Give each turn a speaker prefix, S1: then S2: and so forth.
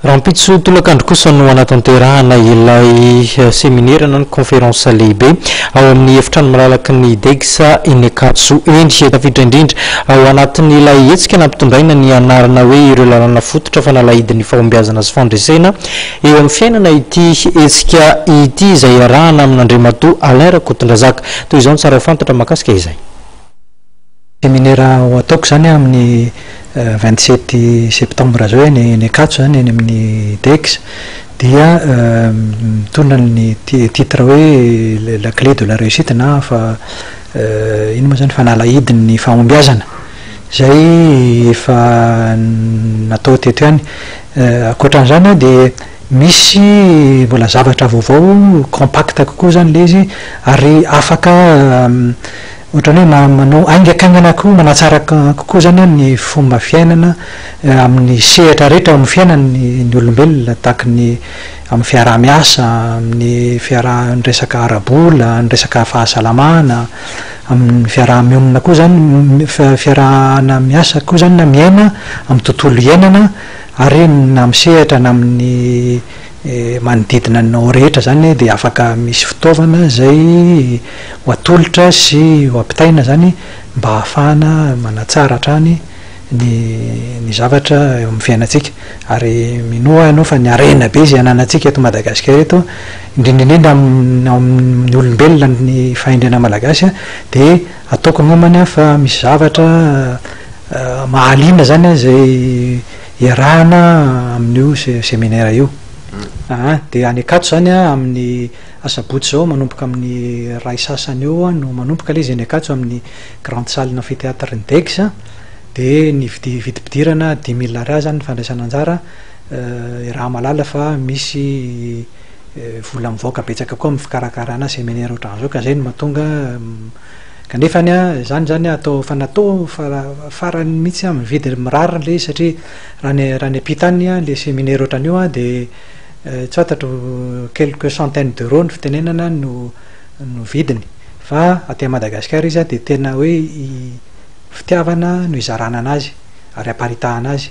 S1: Rahampitso tolakandro kosa no hanatanterahana ilay seminera na ny conférence lehibe ao amin'ny efitrano malalaky ny Degsa eny Ankatso eny. Tafiditra indrindra ao anatin'ilay hetsika nampitondraina ny anarana hoe ireo lalàna fototra fanalahidin'ny fahombiazana sy fandresena eo amin'ny fiainana ity hetsika ity izay iarahana amin'Andriamatoa Alain Rakotondrazaka. Toy izao ny tsara ho fantatra mahakasika izay.
S2: Seminera ho ataoko izany amin'ny vingt sept septembre izao eny eny Ankatso izany eny amin'ny DEGS dia mitondra ny titre hoe la clé de la réussite na fa inona moa izany fanalahidin'ny fahombiazana izay efa natao teto ihany. Ankoatran'izany dia misy mbola zavatra vaovao compact kokoa izany ilay izy ary afaka Ohatrany hoe ma, manao haingakaingana koa, manatsara kokoa izany ny fomba fiainana amin'ny sehatra rehetra eo amin'ny fiainan'ny ny olombelona, tahaky ny amin'ny fiaraha-miasa, amin'ny fiaraha, ny resaka ara-bola, ny resaka fahasalamana, amin'ny fiaraha-mionona koa izany, ny fiarahana miasa koa izany na miaina amin'ny tontolo iainana ary na amin'ny sehatra na amin'ny manodidina anao rehetra izany dia afaka misy fitaovana izay ho atolotra sy ho ampitaina izany mba hahafahana manatsara hatrany ny ny zavatra eo amin'ny fiainantsika. Ary minoa ianao fa ny harena be izay ananantsika eto Madagasikara eto, indrindra indrindra amin'ny ao amin'ny olombelona ny fahendrena malagasy dia ataoko ny homana fa misy zavatra mahaliana izany izay iarahana amin'io seminera io aa, dia any Ankatso izany an, amin'ny asabotsy izao manomboka amin'ny iray sasany eo no manomboka ilay izy any Ankatso amin'ny grande salle amphithéâtre ny Degs an, dia ny vidy vidim-pidirana dix mille Ariary izany ny fandraisana anjara, iaraha mahalala fa misy vola mivaoka betsaka koa amin'ny fikarakarana seminera ohatran'izao ka izay no mahatonga Kanefa ny ahy, izany izany atao fa natao fa farany mihitsy aho mividy mirary ilay izy satria raha ny raha ny ampita any ilay seminaire ohatran'io an dia tsy fantatro quelques centaines d'euros ny fitenenana no no vidiny fa aty Madagasikara izy an dia tena hoe fitiavana no hizarana an'azy ary haparitahana azy.